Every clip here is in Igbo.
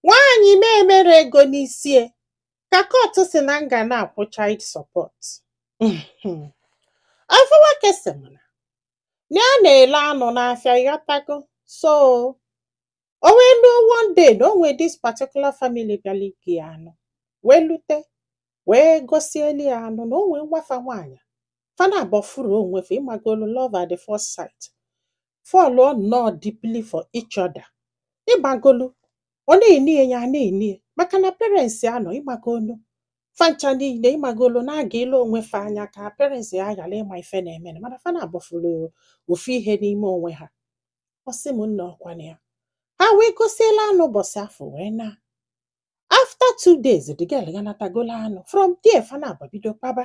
Nwaanyị na-emere ego n'isie ka kọtụ sị na m ga na-akwụ child support afụ. Nwoke sị m na na ya na-ele anụ n'afịa ịghọtago so o wee luo one day na o nwee this particular family bịara ike ya anụ wee lute wee gosieli ya anụ na o nwee nwa fa nwaanyị fa naabọ fụrụ onwe fa ịmagolu love at the first sight fọlụọ nnọọ deeply for each other ịmagolu ọ na-ene ya ya na-ene ya maka na parents ya nọ ịmagolu fa ncha niile ịmagolu na-aga ile onwe fa anya ka parents ya ghara ịma ife na-eme na mana fa naabọ fụrụ ofu ihe n'ime onwe ha ọ sị m nna ọkwa na ya ha wee gosiela anụ ụbọchị afụ wee naa after two days the girl ganatagola anụ from there fa naabọ bido kpaba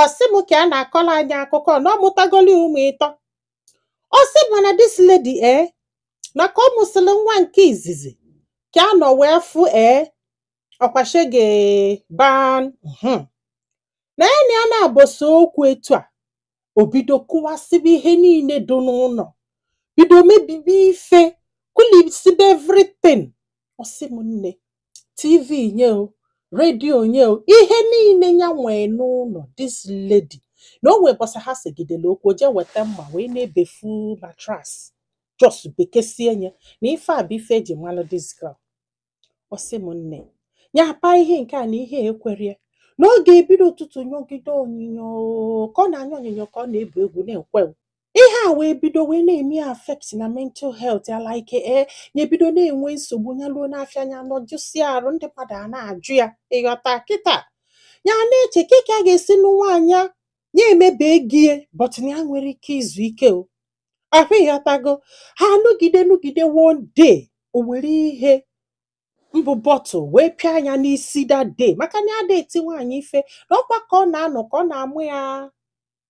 ọ sị m ka a na-akọla anyị akụkọ na ọ mụtagoli ụmụ ịtọ ọ sị m na this lady ee na ka ọ mụsịrị nwa nke izizi ka a nọ wee fụ ee ọkwa shege ban mhm. na ya na ya na-abọsa okwu etu a o bido kụwasịba ihe niile dị n'ụlọ bido mebibi ife kụlisibe everything ọ sị m nne tv nye o redio nye o ihe niile ya nwee n'ụlọ this lady na o nwee ụbọsị ha segidere okwu o jee weta mma wee na-ebefu mattress just bekesie nye na ife a bụ ife e ji malụ this girl ọ sị m nne ya apa ihe nke a na ihe ekwerie na ọ ga-ebido ụtụtụ nyogide onyinyo ka ọ na-anya onyinyo ka ọ na-ebu egwu na-ekwe ihe a wee bido wee na-eme affect na mental health ya like ee eh, ya ebido na-enwe nsogbu ya luo n'afịa nya nọ jụsi arụ ndị mmadụ a na-ajụ ya ịghọta kịta ya na-eche ka a ga-esi nwaanyị ya emebe gie but na ya enwerọ ike izu ike o ahụ ịghọtago ha nụgide nụgide one day o were ihe mbụ bottle wee pịa nya n'isi that day maka na ya ada eti nwaanyị ife na ọkwa ka ọ na-anọ ka ọ na-amụ ya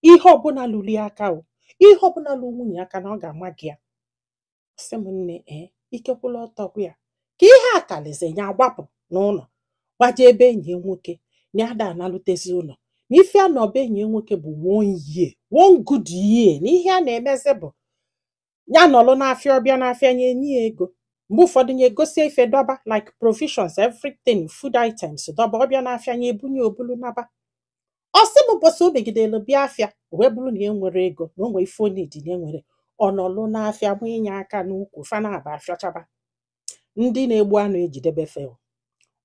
ihe ọbụla luru ya aka o ihe ọbụla luru nwunye aka na ọ ga-ama gị ya ọ sị m nne ee ike kwụlụ ọtọ gwụ ya ka ihe a kalịzie ya agbapụ n'ụlọ gbaje ebe enyi nwoke na ya ada analutezi ụlọ na ife a nọ be enyi nwoke bụ one year one good year na ihe a na-emezi bụ ya nọlụ n'afịa ọ bịa n'afịa nya enye ya ego mgbe ụfọdụ nya egosi ife dọba like provisions everything food items dọba ọ bịa n'afịa nya ebunye o bulu naba ọ sị m ụbọchị o megidere bịa afịa wee bụrụ na enwerọ ego na o nwee ife ọ needi na enwerọ ọ nọlụ n'afịa manye aka n'ukwu fa naabọ afịọchaba ndị na-egbu anụ ejidebe fel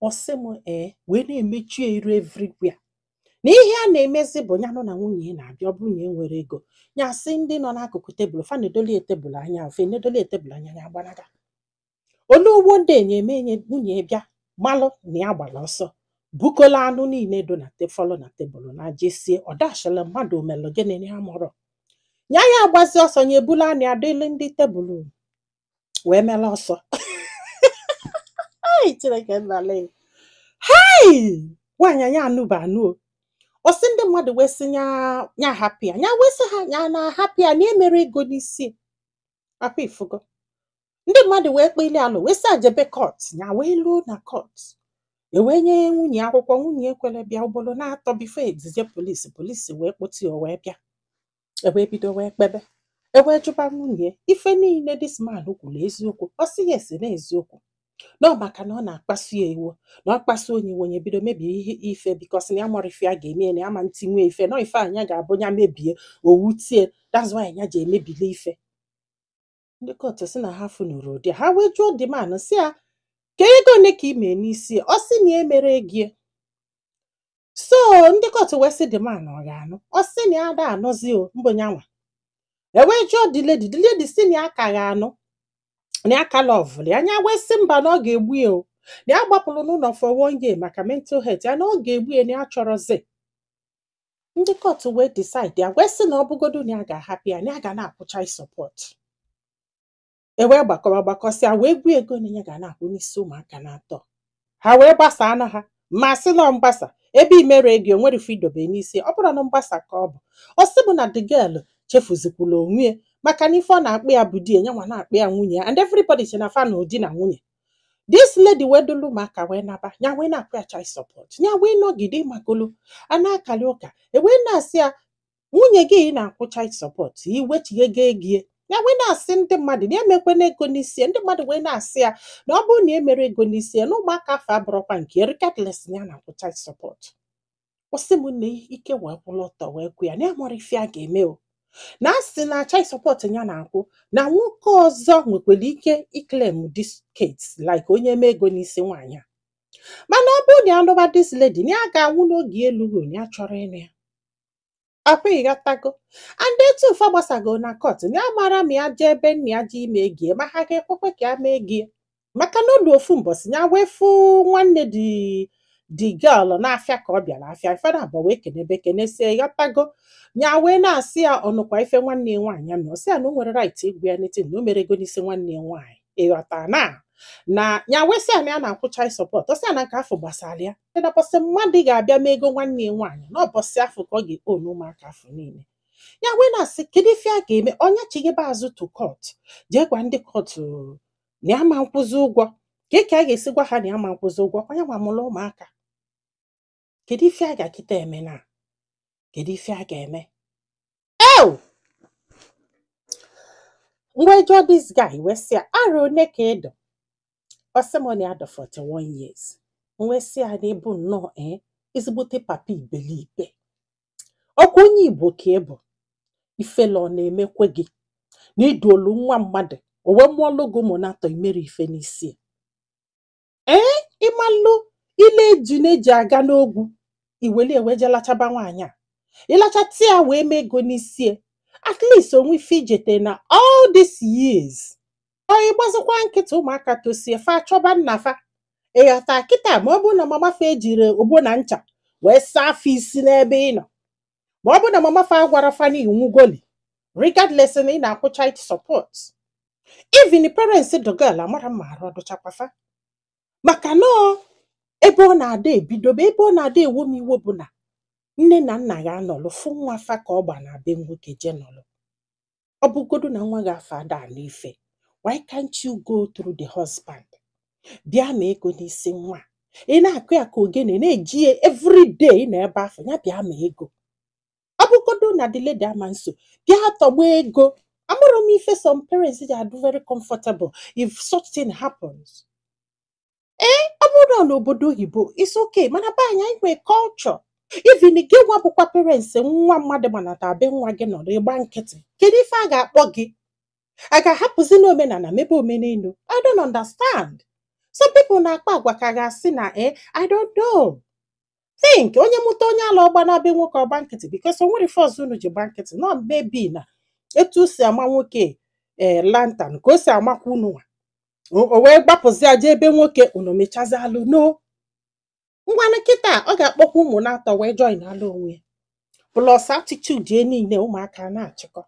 ọ sị m ee wee na-emechi ya iru everywhere na ihe a na-emezi bụ ya nọ na nwunye ya na-abịa ọ bụrụ na e nwere ego ya sị ndị nọ n'akụkụ tebụl fa na-edoli tebụl anya ofe na-edoli tebụl anya ya gbalaga onye ugbo ndị enye eme enye nwunye ya bịa malụ na ya gbara ọsọ bukola anụ niile do na te- fọlụ na tebụl na jesie ọ dachila mmadụ omelụ gịnị ya mụrụ ya ya agbazi ọsọ ya ebula anụ ya dịle ndị tebụl wee mela ọsọ Ai, Chineke nna lee. Hai! Nwaanyị a nya anụba anụ o. Ọ sị ndị mmadụ wee sị nya nya hapụ ya. Nya wee sị ha nya na hapụ ya na emere ego n'isi ya. Ọkwa ifugo. Ndị mmadụ wee kpeli alụ wee sị ya jebe kọt. Nya wee luo na kọt. E wee nye nwunye akwụkwọ nwunye ekwere bịa ugboro na-atọ bifo e zije polisi polisi wee kpọte ya o wee bịa. ewee bido wee kpebe ewee jụba nwunye ife niile dis man kwuru eziokwu ọ sị yes na eziokwu na maka na ọ na-akpasu ya iwe na ọ kpasu nya iwe nya ebido mebie ihe ife bikos na ya amarọ ife ya ga-eme ya na ya ama etinwu ya ife na ọ ife nya ga-abụ ya mebie o wute ya that's why ya ji emebili ife ndị kọtụ si na ha afụnurọ ụdị a. ha wee jụọ the man si ya ka ego ole ka ị mee n'isi ya?" ọ sị na ya emere ego ya so ndị kọtụ wee sị the man ọ ga-anụ ọ sị na ya ada anụzi o mbụ nyanwa ewee jụọ the lady the lady si na ya ka ga-anụ na ya ka lọvụlụ ya nya wee sị mba na ọ ga-egbu ya o na ya gbapụrụ n'ụlọ for one year maka mental health ya na ọ ga-egbu ya na ya achọrọzi ndị kọtụ wee decide ya wee sị na ọ bụgodu na ya ga-ahapụ ya na ya ga na-akwụ child support e wee gbakọba gbakọsịa wee gwa ego na ya ga na-akwụ n'isi ụmụaka na-atọ ha wee gbasa anụ ha ma sị na ọ mgbasa ebe imere ego enwere ife idobe n'isi ọ bụrụ na mgbasa ka ọ bụ ọ sị bụ na the girl chefuzikwula onwe ya maka na ife ọ na-akpọ ya bụ di ya nyanwa na-akpọ ya nwunye ya and everybody che na fa nwa bụ di na nwunye this lady wee dulu ụmụaka wee naba ya wee na-akwụ ya child support ya wee nọgide magolu a na-akali ụka ewee na-asị ya nwunye gị ị na-akwụ child support iwechighego ego ya ya wee na-asị ndị mmadụ na emekwana ego n'isi ya. ndị mmadụ wee na-asị ya na ọ bụrụ na emere ego n'isi ya na ụmụaka afụ abụrọkwa nke ya, regardless na ya na-akwụ child support ọ sị m na ike wee kwụrụ ọtọ wee gwụ ya na ya amarọ ife ya ga-eme o na a sị na child support ya na-akwụ na nwoke ọzọ nwekwara ike iklem dis kids like onye mee ego n'isi nwaanyị a mana ọ bụrụ na ya nụba dis lady na ya ga-anwụ n'oge elughị na ya achọrọ ịnụ ya akwa ịghọtago and etu ụfa gbasago na court na ya mara ma ya jee ebe nna ya ji ime ego ye ma ha ga-ekwekwe ka ya mee ego ye maka na o lu ofu mbọsị ya wee fụ nwanne the girl n'afịa ka ọ bịara afịa fa na abụọ wee kenebe kenesie ịghọtago ya wee na-asị ya ọ nụkwa ife nwanne ya nwaanyị ya mere ọ sị ya na o nwere right ịgwa ya anything na o mere ego n'isi nwanne ya nwaanyị ịghọta na na ya wee sị ya na ya na-akwụ child support ọ sị ya na nke afọ gbasara ya na bọsị mmadụ ga-abịa mee ego nwanne ya nwaanyị na ọbọsị afọ ka ọ ga-ekponu ụmụaka afọ niile ya wee na-asị kedu ife a ga-eme ọ nya chighebe azụ to court jee gwa ndị court na ya ma nkwụzi ụgwọ ka ka a ga-esi gwa ha na ya ma nkwụzi ụgwọ ọ nya nwa mụrụ ụmụaka kedu ife a ga-akịta eme na kedu ife a ga-eme ee m wee jụọ this guy wee sị ya arọ one ka ị dụ ọ sị m na ya dụ 41 years m wee sị ya na ị bụ nnọọ ee eh, ezigbote papa ibelibe ọkwa onye igbo ka ị bụ ifele ọ na-emekwe gị na i duolu nwa mmadụ o wee mụọlụ gị ụmụ n'atọ i mere ife n'isi ee ị malụ ile ejuna ji aga n'ogwu i welie wee je lachaba nwaanyị a ị lachata ya wee mee ego n'isi ya. at least o nwe ife i jete na all these years ọ ị gbazikwa nkịtị ụmụaka tosie fa achọba nna fa ịghọta kịta ma ọ bụ na mama fa ejiri ogbo na ncha wee saa fa isi n'ebe ị nọ ma ọ bụ na mama fa agwara fa na ị nwụgoli regardless na ị na-akwụ child support even the parents the girl amara m ma arụ ọ dụchakwa fa maka na ọ ebe ọ na-ada ebido bụ ebe ọ na-ada ewo m iwe bụ na nne na nna ga-anọlụ fụ nwa fa ka ọ gbanaa be nwoke je nọlụ ọ bụgodu na nwa gị afọ ada anụ ife why can't you go through the husband bịa ma ego n'isi nwa ị na-akụ ya ka ogene na-eji ya everyday na ebe afọ ya bịa ma ego ọ bụgodu na the lady ama nso bịa tọgba ego amarọ m ife some parents ji adụ very comfortable if such thing happens ee ọ bụrụ na obodo oyibo it's okay mana be anyị anyị nwee culture even gị nwa bụkwa parents nwa mmadụ manata be nwa gị nọrọ ị gba nkịtị kedu ife a ga-akpọ gị a ga-ahapụzinụ omenala mebe omenelu i don't understand some people na-akpa agwa ka a ga-asị na e i don't know think onye mụta onye ala ọ gbanaa be nwoke ọ gba nkịtị because o nwere ife ọzọ unu ji gba nkịtị nọ maybe na etu o si ama nwoke ee lantan ka o si amakwa unu nwa o o wee gbapụzịa jee ebe nwoke unu mechizielụ ọnụ ngwanụ kịta ọ ga-akpọkwa ụmụ n'atọ wee joinalụ onwe ya plus attitude ya niile ụmụaka na-achịkọ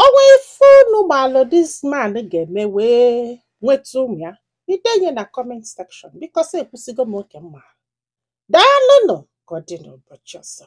o nwee ife unu malụ this man ga-eme wee nweta ụmụ ya i denye na comment section because ekwusigo m oke m ma daalụnụ ka ọ dị n'ụbọchị ọzọ